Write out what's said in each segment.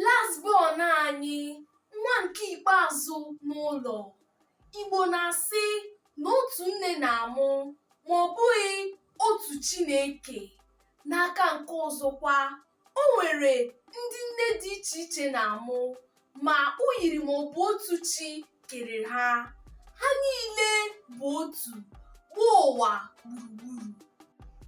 last born anyị nwa nke ikpeazụ n'ụlọ igbo na-asị na otu nne na-amụ ma ọ bụghị otu chi na-eke n'aka nke ọzọkwa o nwere ndị nne dị iche iche na-amụ ma o yiri ma ọ bụ otu chi kere ha ha niile bụ otu gbaa ụwa gburugburu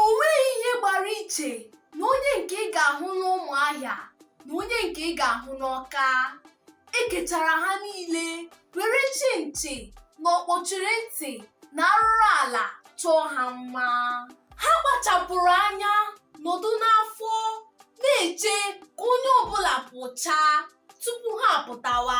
o nweghị ihe gbara iche na onye nke ị ga-ahụ n'ụmụahịa na onye nke ị ga-ahụ n'ọka e kechara ha niile were chịnchị na ọkpọchiri ntị na arụrụ ala chọọ ha mma ha kpachapụrụ anya nọdụ n'afọ na-eche ka onye ọbụla pụchaa tupu ha apụtawa